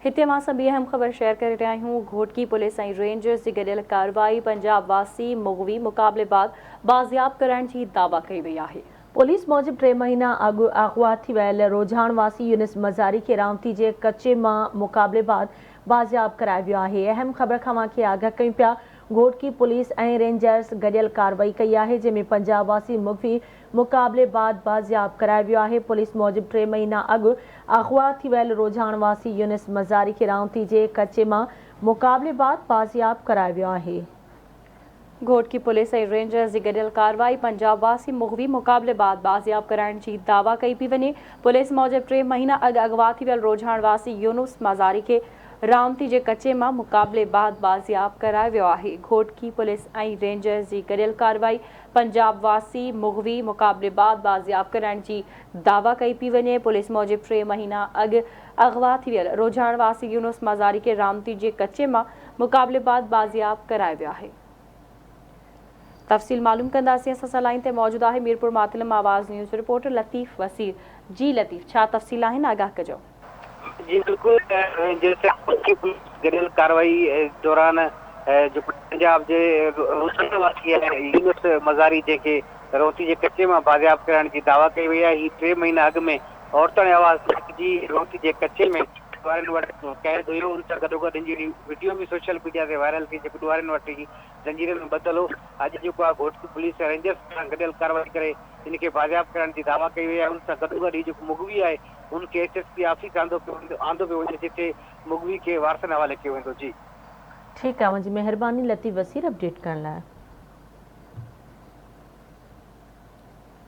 هتي اوهان سان ٻي اهم خبر شيئر ڪري رهيا آهيون، گهوٽڪي پوليس ۽ رينجرز جي گڏيل ڪارروائي پنجاب واسي مغوي مقابلي بعد بازياب ڪرائڻ جي دعويٰ ڪئي وئي آهي. پوليس موجب ٽي مهينا اڳ اغوا ٿي ويل روجهاڻ واسي يونس مزاري کي رامتي جي ڪچي مان مقابلي بعد بازياب ڪرايو ويو آهي. اهم خبر کان اوهان کي آگاهه ڪيون پيا، گهوٽڪي پوليس ۽ رينجرز گڏيل ڪارروائي ڪئي آهي جنهن ۾ پنجاب واسي مغوي مقابلي بعد بازياب ڪرايو ويو آهي پوليس موجب ٽي مهينا اڳ اغوا ٿي ويل روجهاڻ واسي يونس مزاري کي رائونتي جي ڪچي مان مقابلي بعد بازياب ڪرايو ويو آهي. گهوٽڪي پوليس ۽ رينجرز جي گڏيل ڪارروائي پنجاب واسي مغوي مقابلي بعد بازياب ڪرائڻ جي دعويٰ ڪئي پئي وڃي پوليس موجب ٽي مهينا اڳ اغوا ٿي ويل روجهاڻ واسي يونس مزاري کي رائونتي جي ڪچي مان مقابلي بعد بازياب ڪرايو ويو آهي گهوٽڪي پوليس ۽ رينجرز جي گڏيل ڪارروائي پنجاب واسي مغوي مقابلي بعد بازياب ڪرائڻ جي دعويٰ ڪئي پي وڃي، پوليس موجب ٽي مهينا اڳ اغوا ٿي ويل روجهاڻ واسي يونس مزاري کي رامتي جي ڪچي مان مقابلي بعد بازياب ڪرايو ويو آهي. تفصيل معلوم ڪنداسين اسان سان لائين تي موجود آهي ميرپور ماتل مان آواز نيوز رپورٽر لطيف وسير جي لطيف ڇا تفصيل آهن آگاهه ڪجو. جي بلڪل گڏيل ڪارروائي دوران جيڪو پنجاب جي روسڻ واسي آهي يونس مزاري جنهن کي روهتي جي ڪچي مان بازياب ڪرائڻ جي دعويٰ ڪئي وئي آهي هي ٽي مهينا اڳ ۾ عورتاڻي آواز تحريڪ جي روهتي جي ڪچي ۾ ڏوهارين وٽ قيد هيو ان سان گڏوگڏ هن جي وڊيو به سوشل ميڊيا تي وائرل ٿي جيڪو ڏوهارين وٽ هي زنجيرن ۾ ٻڌل هو اڄ جيڪو آهي گهوٽڪي پوليس ۽ رينجرز پاران گڏيل ڪارروائي ڪري هن کي بازياب ڪرائڻ جي دعويٰ ڪئي وئي آهي ان سان گڏوگڏ هي جيڪو مغوي آهي هن کي ايڇ ايس پي آفيس آندو پيو ويندو آندو پيو وڃي جتي مغوي کي وارثن حوالي ڪيو ويندو جي. ٺيڪ آ منهنجي مهرباني لطيف وسير اپڊيٽ ڪرڻ لاء.